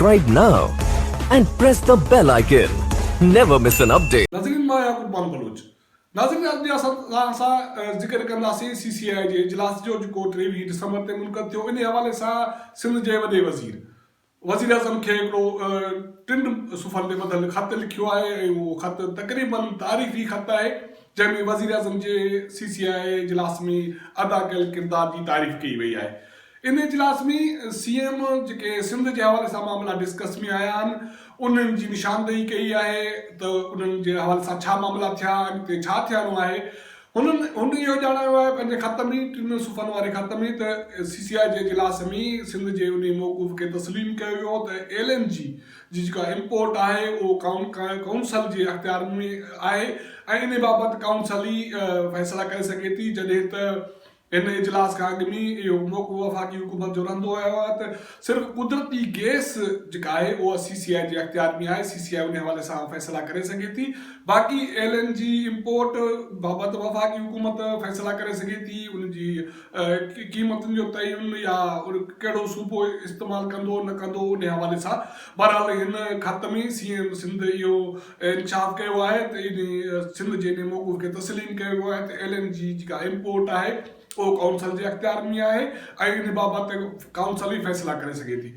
Subscribe now and press the bell icon. Never miss an update. ناظرين مان يعقوب مان بلوچ ناظرين اڄ جي اسان توهان سان ذڪر ڪنداسين سي سي آء جي اجلاس جو جيڪو ٽيويهه ڊسمبر تي منعقد ٿيو انهي حوالي سان سنڌ جي وڏي وزير وزيراعظم کي هڪڙو ٽن صفحن تي ٻڌل خط لکيو آهي ۽ اهو خط تقريباً تاريخي خط آهي، جنهن ۾ وزيراعظم جي سي سي آء اي اجلاس ۾ ادا ڪيل ڪردار جي تعريف ڪئي وئي آهي. ان اجلاس ۾ سي ايم جيڪي سنڌ جي حوالي سان معاملا ڊسڪس ۾ آيا آهن، انهن جي نشاندهي ڪئي آهي ته انهن جي حوالي سان ڇا معاملا ٿيا، اڳتي ڇا ٿيڻو آهي، هن هن اهو ڄاڻايو آهي پنهنجي خط ۾ ٽن صفحن واري خط ۾ ته سي سي آء جي اجلاس ۾ سنڌ جي انهي موقف کي تسليم ڪيو ويو ته ايل اين جي جي جيڪا امپورٽ آهي اهو ڪائونسل جي اختيار ۾ آهي ۽ انهي بابت ڪائونسل ئي فيصلا ڪري سگهي ٿي جڏهن ته ان اجلاس کان اڳ ۾ اهو موقعو وفاقي حڪومت جو رهندو آيو آهي ته صرف قدرتي گئس جيڪا آهي اها سي سي آء جي اختيار ۾ آهي، سي سي آء ان حوالي سان فيصلا ڪري سگهي ٿي، باقي ايل اين جي امپورٽ بابت وفاقي حڪومت فيصلا ڪري سگهي ٿي، ان جي قيمتن جو تعين يا ڪهڙو صوبو استعمال ڪندو نه ڪندو ان حوالي سان بهرحال هن خط ۾ سي ايم سنڌ اهو انڪشاف ڪيو آهي ته ان سنڌ جي انهي موقف کي تسليم ڪيو ويو آهي ته ايل اين جي جيڪا امپورٽ آهي اهو ڪائونسل جي اختيار ۾ آهي ۽ ان بابت ڪائونسل ئي فيصلا ڪري سگهي ٿي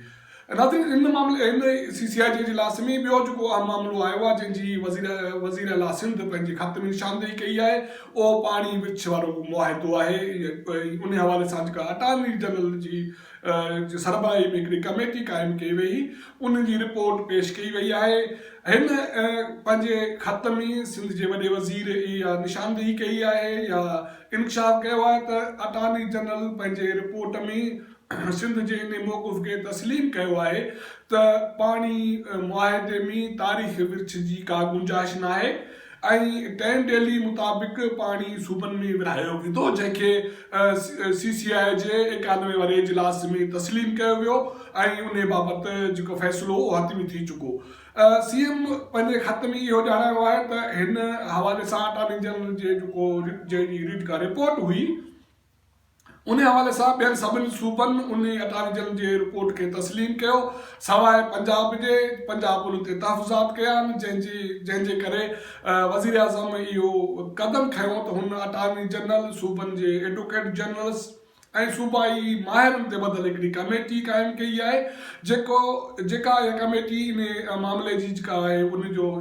ناظرين ان معاملي ان سي سي آء جي اجلاس ۾ ٻيو جيڪو اهم معاملو آيو آهي جنهن جي وزير وزير اعليٰ سنڌ پنهنجي خط ۾ نشاندهي ڪئي آهي اهو پاڻي ورڇ وارو معاهدو آهي ان حوالي سان جيڪا اٽارني جنرل جي سربراهي ۾ هڪڙي ڪميٽي قائم ڪئي وئي ان جي رپورٽ پيش ڪئي وئي آهي هن پنهنجي خط ۾ سنڌ جي وڏي وزير اها نشاندهي ڪئي آهي يا انڪشاف ڪيو آهي ته اٽارني جنرل پنهنجي رپورٽ ۾ سنڌ جي انهي موقف کي تسليم ڪيو آهي ته پاڻي معاهدي ۾ تاريخ ورڇ جي ڪا گنجائش ناهي ۽ ٽين ڊيلي مطابق پاڻي صوبن ۾ ورهايو ويندو جنهن کي سي سي آء جي ايڪانوي واري اجلاس ۾ تسليم ڪيو ويو ۽ انهي بابت جيڪو فيصلو اهو حتمي ٿي چڪو. سي ايم پنهنجي خط ۾ اهو ڄاڻايو آهي ته هن حوالي سان اٽارني جنرل جي جيڪو جي ڊي ريڊ ڪا رپورٽ هئي، انهي حوالي سان ٻين سڀني صوبن انهي اٽارجن جي رپورٽ کي تسليم ڪيو سواء پنجاب جي، پنجاب ان تي تحفظات ڪيا آهن جنهن جي جنهن جي ڪري وزيراعظم اهو قدم کنيو ته هن اٽارني جنرل، صوبن جي ايڊوڪيٽ جنرلز ۽ صوبائي ماهرن تي ٻڌل هڪڙي ڪميٽي قائم ڪئي آهي جيڪو جيڪا اها ڪميٽي انهي معاملي جي جيڪا آهي ان جو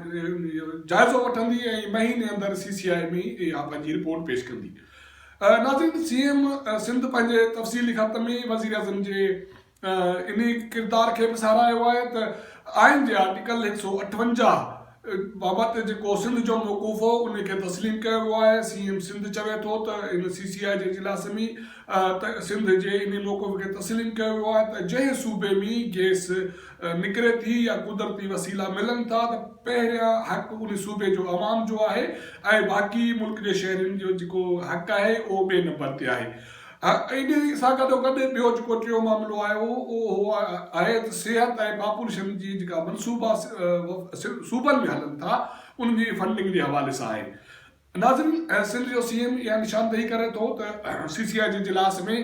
جائزو وٺندي ۽ مهيني اندر سي سي آء ۾ اها پنهنجي رپورٽ پيش ڪندي. ناظرين سي ايم سنڌ پنهنجي تفصيلي خط ۾ وزيراعظم جي انهي ڪردار کي به ساراهيو آهي ته آئين جي آرٽيڪل هڪ سؤ اٺونجاهه بابت جيڪو سنڌ جو موقف هو انهي کي تسليم ڪيو ويو آهي سي ايم سنڌ چوي ٿو ته هن سي سي آء جي اجلاس ۾ سنڌ جي انهي موقف کي تسليم ڪيو ويو آهي ته جنهن صوبي ۾ گيس نڪري ٿي يا قدرتي وسيلا ملن ٿا ته پهريان حق ان صوبي جو عوام جو آهي ۽ باقي ملڪ جي شهرين جو جيڪو حق آهي اهو ٻئي نمبر تي آهي. ان سان گڏوگڏ ٻيو جيڪو ٽيون معاملو آيو اهو آهي ته صحت ۽ پاپوليشن جي جيڪا منصوبا صوبن ۾ هلن ٿا انهن جي فنڊنگ جي حوالي سان آهي. ناظرين سنڌ جو سي ايم اها نشاندهي ڪري ٿو ته سي سي آء جي اجلاس ۾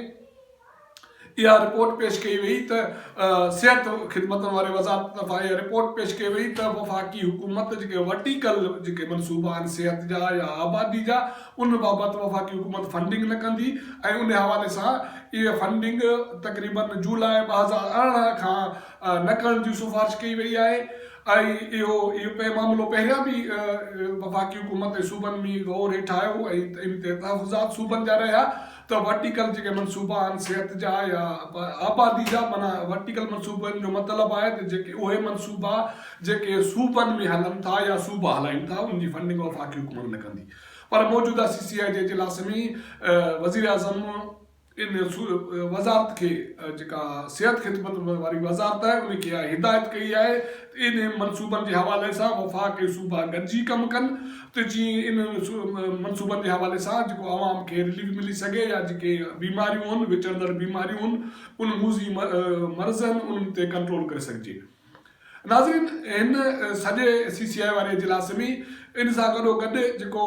اها رپورٽ پيش ڪئي وئي ته صحت خدمتن واري وزارت طرفان اها رپورٽ پيش ڪئي وئي ته وفاقي حڪومت جيڪي ورٽيڪل جيڪي منصوبا آهن صحت جا يا آبادي جا ان بابت وفاقي حڪومت فنڊنگ نه ڪندي ۽ ان حوالي سان اها فنڊنگ تقريبن جولاء ٻه هزار ارڙهن کان نه ڪرڻ جي سفارش ڪئي وئي آهي آهي. اهو معاملو پهريان به وفاقي حڪومت ۽ صوبن ۾ غور هيٺ آيو هو ۽ ان تي تحفظات صوبن جا رهيا ته ورٽيڪل جيڪي منصوبا آهن صحت جا يا آبادي جا معنيٰ ورٽيڪل منصوبن جو مطلب آهي ته جيڪي اهي منصوبا جيڪي صوبن ۾ هلن ٿا يا صوبا هلائين ٿا ان جي فنڊنگ وفاقي حڪومت نه ڪندي پر موجوده سي سي آء جي اجلاس ۾ وزيراعظم ان وزارت کي جيڪا صحت خدمتن واري وزارت آهي ان کي اها هدايت ڪئي آهي ته انهن منصوبن جي حوالي سان وفاق ۽ صوبا گڏجي ڪم ڪن ته جيئن انهن منصوبن جي حوالي سان جيڪو عوام کي رليف ملي سگهي يا جيڪي بيماريون هن وچڙندڙ بيماريون هن ان موذي مرض هن انهن تي ڪنٽرول ڪري سگهجي. ناظرين هن سڄي سي سي آء واري اجلاس ۾ ان سان گڏو گڏ جيڪو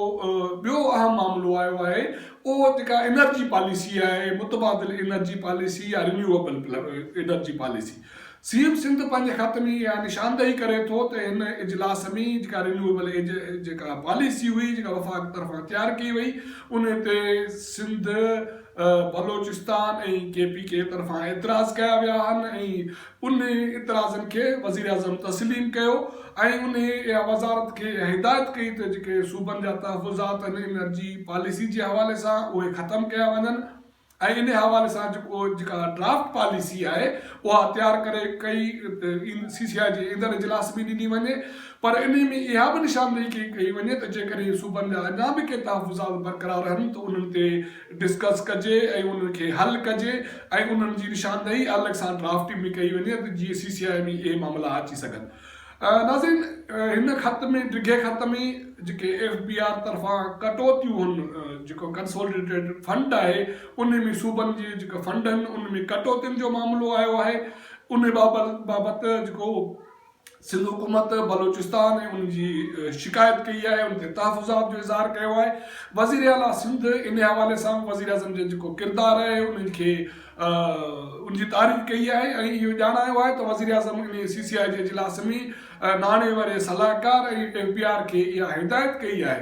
ٻيو اهم معاملو آيو آهي اهو جيڪا انرجي پاليسي آهي متبادل انرجي پاليسي يا renewable energy policy C M Sindh پنهنجي خط ۾ اها نشاندهي ڪري ٿو ته هن اجلاس ۾ جيڪا رينيوئبل جيڪا پاليسي هئي جيڪا وفاق طرفان تيار ڪئي وئي ان تي Sindh Balochistan ۽ K P K طرفان اعتراض ڪيا ويا آهن ۽ انهن اعتراضن کي وزيراعظم تسليم ڪيو ۽ انهن اها وزارت کي هدايت ڪئي ته جيڪي صوبن جا تحفظات آهن انرجي پاليسي جي حوالي سان اهي ختم ڪيا وڃن ۽ انهي حوالي سان جيڪو جيڪا ڊرافٽ پاليسي آهي اها تيار ڪري ڪئي سي سي آء جي ايندڙ اجلاس ۾ ڏني وڃي پر انهي ۾ اها به نشاندهي ڪئي وڃي ته جيڪڏهن صوبن جا اڃا به ڪي تحفظات برقرار رهن ته انهن تي ڊسڪس ڪجي ۽ انهن کي حل ڪجي ۽ انهن جي نشاندهي الڳ سان ڊرافٽ ۾ ڪئي وڃي ته جيئن سي سي آء ۾ اهي معاملا اچي سگهن. ناظرين هن خط ۾ ڊگهي خط ۾ جيڪي ايف بي آر طرفان ڪٽوتيون هن جيڪو ڪنسوليڊيٽيڊ فنڊ آهي انهي ۾ صوبن جي جيڪا فنڊ هن ان ۾ ڪٽوتين جو معاملو آيو آهي انهي بابت جيڪو سنڌ حڪومت بلوچستان ۽ ان جي شڪايت ڪئي آهي، ان تي تحفظات جو اظهار ڪيو آهي. وزير اعليٰ سنڌ ان حوالي سان به وزيراعظم جو جيڪو ڪردار آهي ان کي ان جي تعريف ڪئي آهي ۽ اهو ڄاڻايو آهي ته وزيراعظم ان سي سي آء جي اجلاس ۾ ناڻي واري صلاحڪار ۽ ايم پي آر کي اها هدايت ڪئي آهي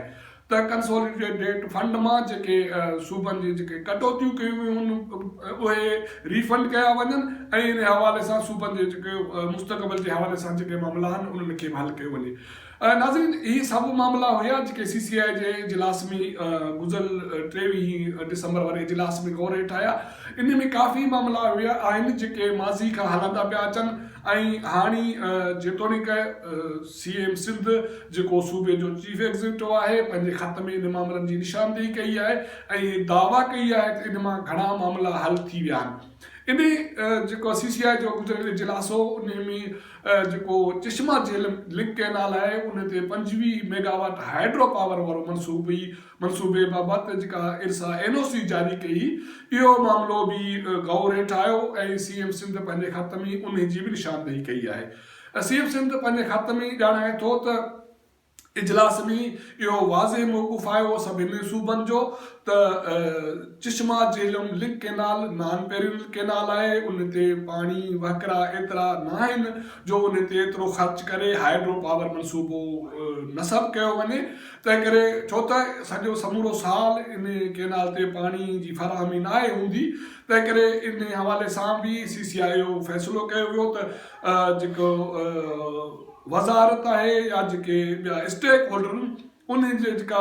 ته ڪنسوليڊيٽ فنڊ مان جيڪي صوبن جي جيڪي ڪٽوتيون ڪيون ويون آهن اهي ري فنڊ ڪيا وڃن ۽ ان حوالي سان صوبن جي جيڪي مستقبل جي حوالي سان جيڪي معاملا آهن انهن کي به حل ڪيو وڃي ناظرين اهي سڀ معاملا هيا جيڪي سي سي آء جي اجلاس ۾ گذريل ٽيويهين ڊسمبر واري اجلاس ۾ غور هيٺ آيا ان ۾ ڪافي معاملا اهي آهن جيڪي ماضي کان هلندا پيا اچن ۽ هاڻي جيتوڻيڪ سي ايم سنڌ جيڪو صوبي جو چيف ايگزيڪيوٽو آهي پنهنجي خط ۾ ان معاملن جي نشاندهي ڪئي آهي ۽ دعويٰ ڪئي آهي ته ان مان گهڻا معاملا حل ٿي ويا آهن انهي جيڪو سي سي آء جو گذريل اجلاس هو انهي ۾ جيڪو چشما جهيل لنڪ ڪئنال آهي ان تي پنجويهه ميگا واٽ هائيڊرو پاور وارو منصوبي منصوبي بابت جيڪا ارسا اين او سي جاري ڪئي اهو معاملو به غور هيٺ آيو ۽ سي ايم سنڌ پنهنجي خط ۾ انهي جي به نشاندهي ڪئي آهي اسيف سنڌ پنهنجي خط ۾ ئي ڄاڻائي ٿو ته اجلاس ۾ اهو واضح موقف آيو سڀني صوبن جو ته Chashma Jhelum link canal non perennial canal آهي ان تي پاڻي وهڪرا ايترا ناهن جو ان تي ايترو خرچ ڪري هائيڊرو پاور منصوبو نصب ڪيو وڃي تنهنڪري ڇو ته سڄو سمورو سال ان ڪينال تي پاڻي جي فراهمي ناهي هوندي تنهنڪري ان حوالي سان به سي سي آء اهو فيصلو ڪيو ويو ته جيڪو وزارت آهي يا جيڪي ٻيا اسٽيڪ هولڊر آهن ان جي جيڪا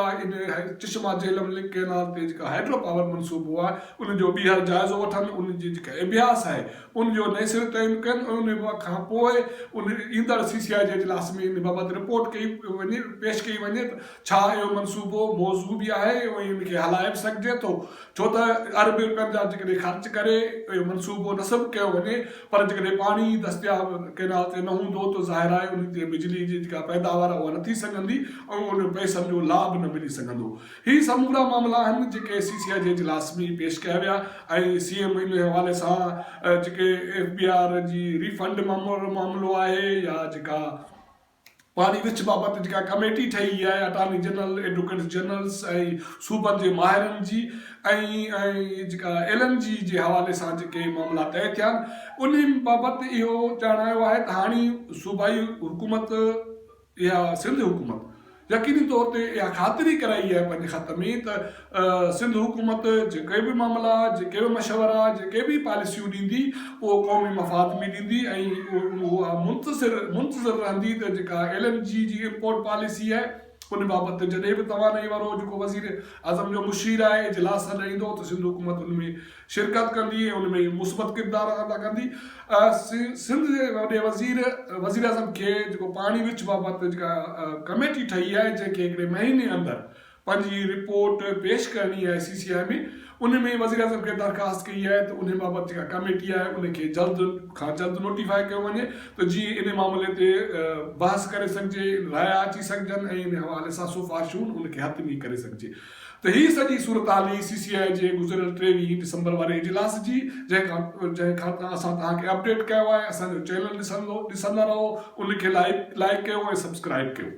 چشما جهلم لنڪ ڪينال تي جيڪا هائيڊرو پاور منصوبو آهي ان جو ٻيهر جائزو وٺن ان جي جيڪا اڀياس آهي ان جو نئين سري تعين ڪن ان کان پوء ان ايندڙ سي سي آء جي اجلاس ۾ ان بابت رپورٽ ڪئي وڃي پيش ڪئي وڃي ڇا اهو منصوبو موزون به آهي ۽ ان کي هلائي به سگهجي ٿو؟ ڇو ته اربين رپين جا جيڪڏهن خرچ ڪري اهو منصوبو نصب ڪيو وڃي پر جيڪڏهن پاڻي ئي دستياب ڪينال تي نه هوندو ته ظاهر آهي ان تي بجلي جي جيڪا پيداوار آهي اها نه ٿي سگهندي ۽ ان پئسن جو لاڀ نه ملي سگهندو. هي سمورا معاملا آهن جيڪي سي سي آء جي اجلاس ۾ پيش ڪيا ويا ۽ سي ايم ان حوالي سان جيڪي ايف بي آر جي ري فنڊ معاملو آهي يا جيڪا پاڻي وچ بابت جيڪا ڪميٽي ٺهي اها آهي اٽارني جنرل، ايڊوڪيٽس جنرلس ۽ صوبن جي ماهرن جي ۽ جيڪا ايل اين جي جي حوالي سان جيڪي معاملا طئي ٿيا آهن انهي بابت اهو ڄاڻايو آهي ته هاڻي صوبائي حڪومت يا سنڌ حڪومت يقيني طور تي اها خاطري ڪرائي آهي پنهنجي خط ۾ ته سنڌ حڪومت جيڪي به معاملا، جيڪي به مشورا، جيڪي به پاليسيون ڏيندي اهو قومي مفاد ۾ ڏيندي ۽ اها منتظر منتظر رهندي ته جيڪا ايل اين جي جي امپورٽ پاليسي آهي ان بابت جڏهن به توانائي وارو جيڪو وزير اعظم جو مشير آهي اجلاس سڏائيندو ته سنڌ حڪومت ان ۾ شرڪت ڪندي ۽ ان ۾ مثبت ڪردار ادا ڪندي سنڌ جي وڏي وزير وزير اعظم کي جيڪو پاڻي وچ بابت جيڪا ڪميٽي ٺهي آهي جنهن کي هڪڙي مهيني اندر پنهنجي رپورٽ پيش ڪرڻي آهي سي سي آء ۾ ان ۾ وزيراعظم کي درخواست ڪئي آهي ته ان بابت جيڪا ڪميٽي آهي ان کي جلد کان جلد نوٽيفاء ڪيو وڃي ته جيئن ان معاملي تي بحث ڪري سگهجي رايا اچي سگهجن ۽ ان حوالي سان سفارشون ان کي حتمي ڪري سگهجي ته هي سڄي صورتحال هي سي سي آء جي گذريل ٽيويهه ڊسمبر واري اجلاس جي جنهن کان کان اسان توهان کي اپڊيٽ ڪيو آهي اسان جو چينل ڏسندو ڏسندا رهو ان کي لائڪ لائڪ ڪيو ۽ سبسڪرائب ڪيو.